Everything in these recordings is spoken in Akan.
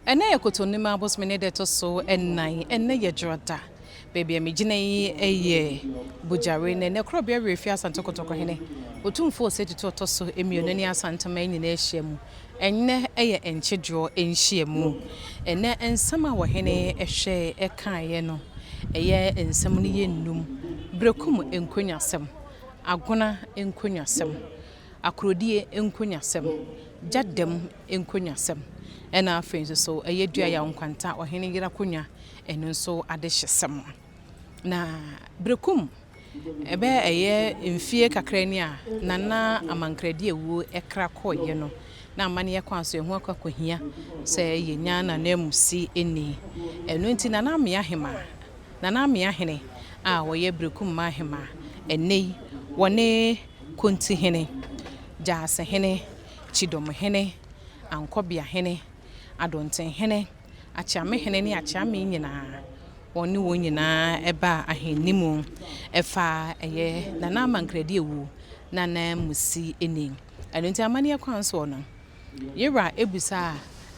Ɛnnɛ yɛ Kotonim abosome ne da a ɛtɔ so nnan. Ɛnnɛ yɛ Dwoda. Baabi a megyina yi yɛ Bojare, na ɛnnɛ Korɔbea Werɛ Fi Asante Kotoko Hene Otumfoɔ Osei Tutu a ɔtɔ so mmienu ne Asanteman nyinaa ahyia mu. Ɛnnɛ yɛ Nkyedoɔ nhyiamu. Ɛnnɛ nsɛm a Ɔhene hwɛe kaeɛ no, ɛyɛ nsɛm no yɛ nnum, Berekum nkonnwasɛm, Agona nkonnwasɛm, Akorodie nkonyasɛm, gya dɛm nkonyasɛm, ɛna afei nso so ɛyɛ Duayaw Nkwanta ɔhene yere akonnwa, ɛno nso adehyesɛm. Na Berekum ɛbɛyɛ ɛyɛ mfie kakra ni a na na Amankradi awuo ɛkra kɔeɛ no, na amanneɛ kwan so ɛho akɔhia sɛ yɛnya n'ananmusi nni. Ɛno nti Nana Amea Hemaa, Nana Amea Hene a ɔyɛ Berekum Mmaa Hemaa ɛnnɛ yi, wɔne. Kontihene, Gyaasehene, Kyidomhene, Ankɔbeahene, Adontenhene, Akyeamehene ne Akyeame nyinaa, wɔn ne wɔn nyinaa baa ahenni mu faa ɛyɛ Nana Amankradi awu no ananmusi ni. Ɛno nti amanneɛ kwan soɔ no, Yera abisa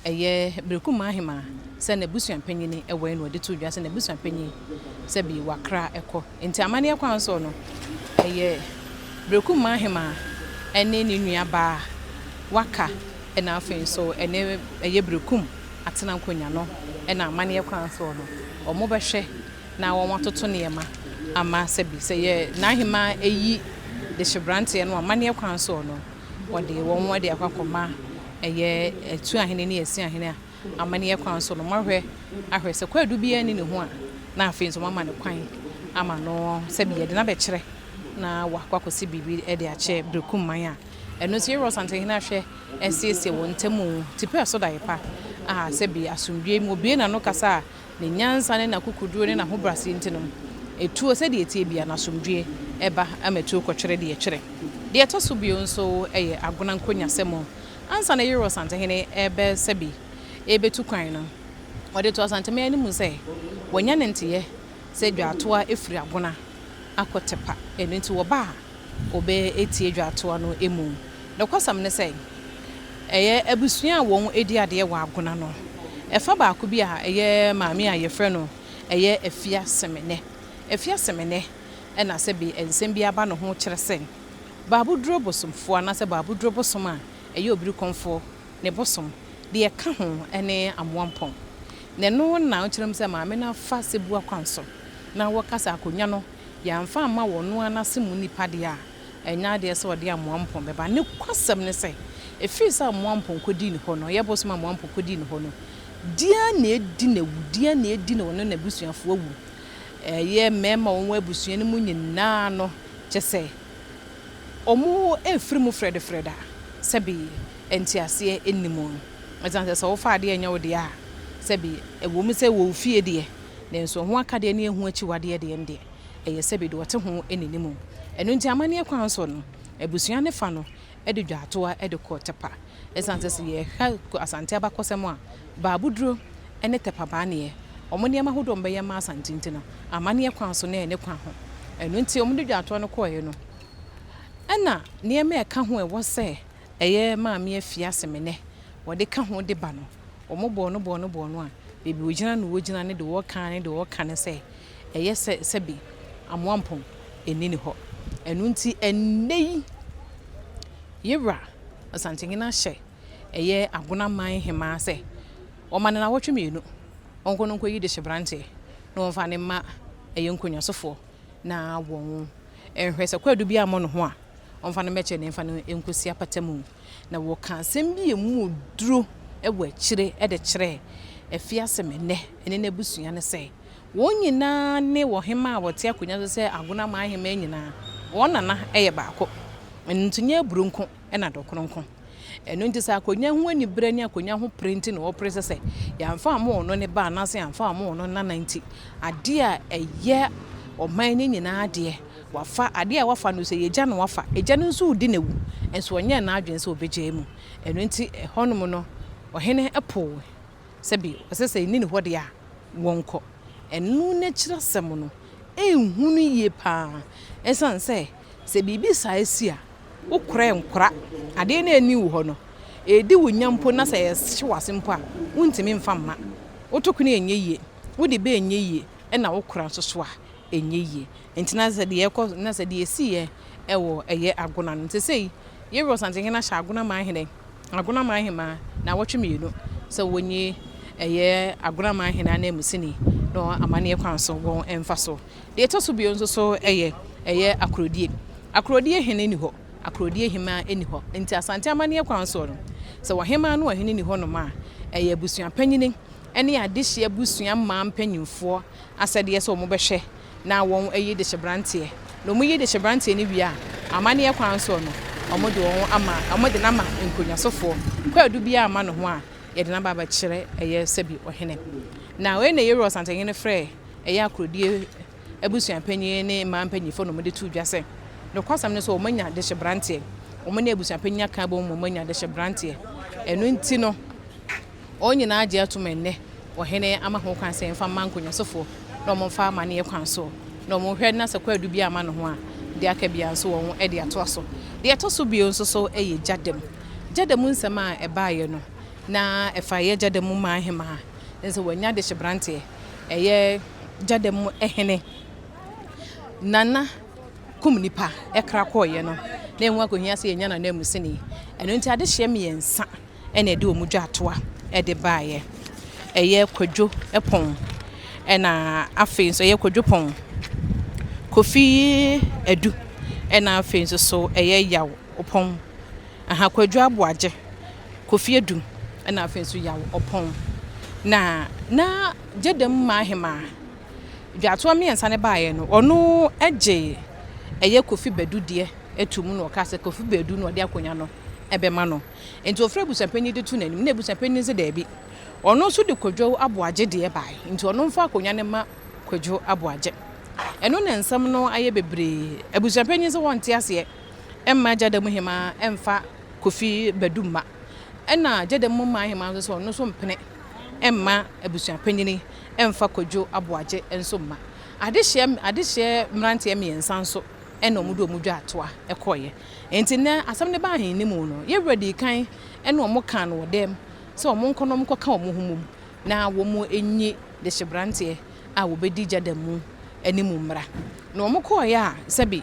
a ɛyɛ Berekum Ahima sɛ n'abusuapanyin wɛn no, ɔde too dwa sɛ n'abusuapanyin sɛ bi wakra kɔ. Enti amanneɛ kwan so no, ɛyɛ Berekum Ahima ne ne nuabaa a waka na afei nso ɛne ɛyɛ Berekum Atena Nkonya no na amanneɛ kwan so no wɔbɛhwɛ na wɔatoto nneɛma ama sɛ bi sɛ yɛ Nahima ayi dehyeberanteɛ no amanneɛ kwan so no. Wɔde wɔn de akɔ akɔma ɛyɛ Atu Ahene ne Asi Ahene a amanneɛ kwan so no, moahwɛ ahwɛ sɛ kwaadu biara nni ne ho a, na afei nso moama no kwan ama no sɛbi yɛde no abɛkyerɛ na wakɔ akɔsi biribi de akyɛ Berekum man a ɛno nso yɛwura Ɔsantehene ahwɛ asiesie wɔn ntam tipɛɛ so daeɛ pa a sɛbi asomdwoeɛ mu obue n'ano kasa a Ne nyansa ne n'akokoduro ne n'ahobrɛaseɛ nti no, ɛtuo sɛdeɛ ɛteɛ biara no, asomdwoeɛ ba ma ɛtuo kɔtwere deɛ ɛtwere. Deɛ ɛtɔ so bio nso yɛ Agona nkonyasɛm. Ansa na Yerɔ Asantehene rebɛsa bi rebɛtu kwan no, ɔde too Asantehene anim sɛ wanya ne nteeɛ sɛ dwaatoa firi Agona akɔ Tepa. Ɛno nti wɔba a, wɔbɛtie dwatoa no mu. Nokwasɛm ne sɛ, ɛyɛ abusua a wɔdi adeɛ wɔ Agona no ɛfa baako bi a ɛyɛ maame a wɔfrɛ no ɛyɛ Afia Semene. Afia Semene na sɛ bi nsɛm bi aba ne ho kyerɛ sɛ Baaboduro bosomfoɔ anaasɛ Baaboduro bosom a ɛyɛ Obirikɔmfoɔ ne bosom, deɛ ɛka ho ne Amoampɔn. Na ɛno na ɔkyerɛ mu sɛ maame no afa sɛbua kwan so na wɔkasa akonnwa no Yɛamfa amma wɔ ɔno ara n'ase mu nipa deɛ a, ɛnyɛ adeɛ sɛ ɔde amoa mpɔn bɛba. Nokwasɛm ne sɛ, ɛfiri sɛ amoa mpɔn kɔdii ne hɔ no, ɔyɛ bosome amoa mpɔn kɔdii ne hɔ no, deɛ ara na ɛdi no awu, deɛ ara na ɛdi no ɔne n'abusuafoɔ awu, ɛyɛ mmarima a wɔwɔ abusua no mu nyina ara no, kyɛ sɛ, wɔrefiri mu frɛdefrɛd a, sɛbe nteaseɛ nni mu. Ɛsiane sɛ sɛ wofa adeɛ nyɛ wo dea a, sɛbe ɛwɔ mu sɛ ɛwɔ wo fie deɛ, Nanso ho akadeɛ ne ɛho akyiwadeɛ deɛ, ɛndeɛ ɛyɛ sɛ baabi wɔte ho nnim. Ɛno nti amanneɛ kwan soɔ no, abusua no fa no de dwaatoa de kɔ Tɛpa. Ɛsiane sɛ sɛ yɛhwɛ Asante abakɔsɛm a, Baaboduro ne Tɛpa Baaneɛ, wɔn nneɛma ahodoɔ a wɔbɛyɛ ma Asante nti no, amanneɛ kwan so na ɛne kwan ho. Ɛno nti wɔde dwaatoa no kɔeɛ no, ɛna nneɛma a ɛka ho a ɛwɔ sɛ Ɛyɛ Maame Afie Asemene wɔde ka ho de ba no. Wɔn bɔɔ no bɔɔ no bɔɔ no a, baabi wɔgyina no wɔgyina ne deɛ wɔka ara ne deɛ wɔka ne sɛ, ɛyɛ sɛ sɛbe Amoampong nni ne hɔ. Ɛno nti ɛnnɛ yi Yewura Asantehene ahyɛ ɛyɛ Agona man hemaa sɛ wɔma no nnawɔtwe mmienu, ɔnkɔ no nkɔyi dehyeberanteɛ na wɔmfa no mma ɛyɛ nkonnwasofoɔ. na wɔn nhwɛ sɛ kwaadu bi ammɔ ne ho a, ɔmfa no mmɛkyɛ na ɛmfa no nkosi apata mu. Na wɔka asɛm bi a emu duro wɔ akyire de kyerɛɛ Afiasɛm Ɛnnɛ ne n'abusua no sɛ, wɔn nyinaa ne ɔhemmaa a ɔte akonnwa so sɛ Agonaman Hemmaa nyinaa, wɔn nana yɛ baako. Ɛno nti, nyɛ aburoo nko. na dɔ kronkron. Ɛno nti sɛ akonya ho anibere ne akonya ho pere nti na wɔpere sɛ sɛ yɛamfa ammɔ wɔn ne ba anaasɛ yɛamfa ammɔ wɔn ne nana nti adeɛ a ɛyɛ ɔman no nyinaa deɛ wafa, adeɛ a wafa no sɛ yɛgya no wafa, agya no nso redi n'awu nso ɔnyɛɛ n'adwene sɛ ɔbɛgyae mu. Ɛno nti ɛhɔnom no ɔhene poo sɛ bi ɔsɛ sɛ nni ne hɔ deɛ a wɔnkɔ. Ɛno n'akyiri asɛm no ɛnhunu yie pa ara ɛsiane sɛ Sɛ biribi saa si a, wo kora ɛnkora. Adeɛ no anni wo hɔ no, ɛredi wo nya mpo na sɛ ɛhye wo ase mpo a, wontumi mfa mma. Wo tokene a ɛnyɛ yie, wo de bɛ ɛnyɛ yie ɛna wo kora nso so a ɛnyɛ yie. Nti na sɛ deɛ ɛkɔ, na sɛ deɛ ɛsiiɛ wɔ ɛyɛ Agona no. Nti sɛsɛi, Yereosantehene ahyɛ Agona man hene. Agonaman Hemaa naawɔtwe mmienu sɛ wɔnyi ɛyɛ Agonaman Hene ananmusini no amanneɛ kwan so wɔn mfa so. Deɛ ɛtɔ so bio nso so yɛ ɛyɛ Akorodie. Akorodie Hene nni hɔ, Akorodie Hemaa nni hɔ, nti Asante amanneɛ kwan soɔ no, sɛ Ɔhemaa ne Ɔhene nni hɔ nom a, ɛyɛ Abusua Panyini ne Adehyeɛ Abusua mmaa mpanyinfoɔ asɛdeɛ sɛ wɔbɛhwɛ na wɔn ayi dehyeberanteɛ, na wɔn yi dehyeberanteɛ no wie a, amanneɛ kwan soɔ no, wɔn de wɔn ama, wɔn de no ama nkonnwasofoɔ, kwaadu biara a mma ne ho a, yɛde no aba abɛkyerɛ ɛyɛ sɛbi ɔhene. Na wei na Yeroa ɔsantanhene frɛɛ ɛyɛ akorodie abusua panin ne mmaa mpaninfoɔ na wɔn de too dwa sɛ, nokwasɛm ne sɛ wɔn anya dehyeberanteɛ, wɔn ne abusua panin aka abom ma wɔn anya dehyeberanteɛ, ɛno nti no, Wɔn nyinaa gye atom ɛnnɛ wɔ hene ama ho kwan sɛ yɛmfa mma nkonyasofo na wɔn mfa amanneɛ kwan so na wɔn hwɛ na sɛ kwaadu biara amma ne ho a deɛ aka biara nso wɔn de atoa so. Deɛ ɛtɔ so bio nso so yɛ gya da mu. Gya da mu nsɛm a ɛbaeɛ no na ɛfa ɛyɛ gya da mu man hemaa ne sɛ wɔanya adehyebranteɛ ɛyɛ gya da mu hene Nana kum nipa kra kɔeɛ no na ɛho akɔhia sɛ yɛnya no ananmusini. Ɛno nti adehyeɛ mmiɛnsa. na ɛde wɔn dwatoa de baeɛ. Ɛyɛ Kwadwo pɔn, ɛna afei nso ɛyɛ Kwadwo pɔn, Kofi Adu, ɛna afei nso so ɛyɛ Yaw ɔpɔn. Aha, Kwadwo Aboagye, Kofi Adu, ɛna afei nso Yaw ɔpɔn. Na na Gyedem Maahema, dwatoa mmiɛnsa no baeɛ no, ɔno gye ɛyɛ Kofi Badu deɛ to mu na ɔka sɛ Kofi Badu na ɔde akonnwa no bɛma no. Enti wɔfrɛ abusuapanyin de to n'anim na abusuapanyin no se daabi, ɔno nso de Kwadwo Aboagye deɛ bae, enti ɔno mfa akonnwa no mma Kwadwo Aboagye. Ɛno na nsɛm no ayɛ bebree. Abusuapanyin se wɔnte aseɛ mma Gyadamu Hemaa mfa Kofi Badu mma, ɛna Gyadamu Mmaa Hemaa nso se ɔno nso mpene mma abusuapanyin mfa Kwadwo Aboagye nso mma. Adehyeɛ adehyeɛ mmeranteɛ mmiɛnsa nso na wɔde wɔn dwatoa kɔeɛ. Enti nnɛ asɛm no baa ahennimu no, yɛn wura dii kan ne wɔn kaa no wɔ dɛm sɛ wɔn nkɔ na wɔn nkɔka wɔn ho mmom na wɔn nyi dehyeberanteɛ a wɔbɛdi gya da mu anim mmra. Na wɔn kɔeɛ a sɛbe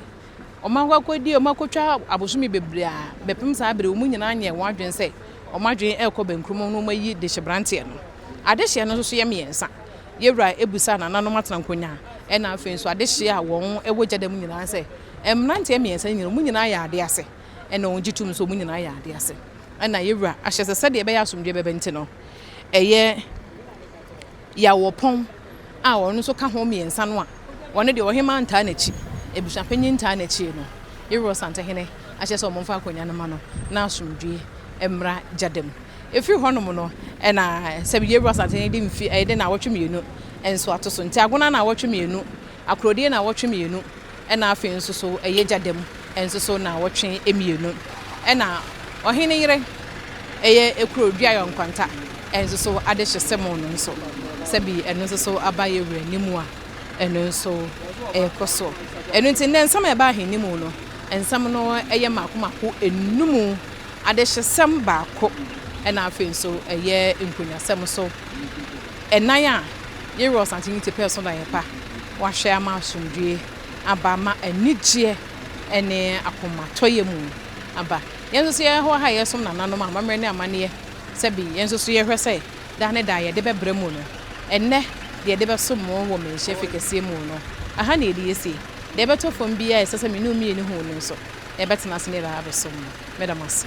wɔn akɔ akɔdie, wɔn akɔtwa abosome bebree a bɛpem saa bere, wɔn nyinaa nyɛɛ wɔn adwene sɛ wɔn adwene rekɔ bɛnkurom na wɔn ayi dehyeberanteɛ no. Adehyeɛ no nso so yɛ mmiɛnsa. Yɛn wura bisaa nananom atenankonyaa na afei nso adehyeɛ a wɔn wɔ gya da mu nyinaa sɛ Mmeranteɛ mmiɛnsa no nyinaa, wɔn nyinaa yɛ adeɛ ase, ɛna wɔgye tom nso, wɔn nyinaa yɛ adeɛ ase. Ɛna yɛn Wura ahyɛ sɛ sɛdeɛ ɛbɛyɛ asomdwoeɛ bɛba nti no, ɛyɛ Yawoɔpɔn a ɔno nso ka ho mmiɛnsa no a, ɔno deɛ ɔhemaa ntaa n'akyi, abusuapanyin ntaa n'akyi no, yɛn Wura Ɔsantehene ahyɛ sɛ wɔmfa akonnwa no mma no na asomdwoeɛ mmra Gyada mu. Ɛfiri hɔnom no, ɛna sɛ yɛn Wura Ɔsantehene de mfe, ɛde nnawɔtwe mmienu nso ato so. Nti Agona nnawɔtwe mmienu. Akorodie naawɔtwe mmienu ɛna afei nso so ɛyɛ gya dam nso so naawɔtwe mmienu ɛna ɔhene yere ɛyɛ ekuro duayɔ nkwanta nso so ade hye semo no nso sɛbi ɛno nso so aba yɛ wura ni mu a ɛno nso ɛɛkɔ so ɛno nti nnɛ nsɛm a ɛba ahen ni mu no nsɛm no ɛyɛ maako maako enumu ade hye sɛm baako ɛna afei nso ɛyɛ nkonyasɛm so. Ɛnan a Yɛrewɔ Asante Unity Pɛɛ So Daeɛpa Wahwɛ Ama Asomdwoeɛ Aba Ama Anigyeɛ Ne Akomatɔyɛ Mu Aba Yɛn Nso So Yɛn Wɔ Ha a Yɛresom Nananom Amammerɛ Ne Amanneɛ Sɛbe Yɛn Nso So Yɛhwɛ Sɛ Daa Ne Daa Yɛde Bɛbrɛ Mu No Ɛnnɛ Deɛ Yɛde Bɛsom Mo Wɔ Mmanhyia Fi Kɛseɛ Mu No Ɛha Na Yɛde Yɛsie Deɛ Ɛbɛtɔ Fam Biara Ɛsɛ Sɛ Me Ne Wo Mmienu Hu No Nso Yɛbɛtena Ase Ne Yɛde Abɛsom Mo Meda Mo Ase.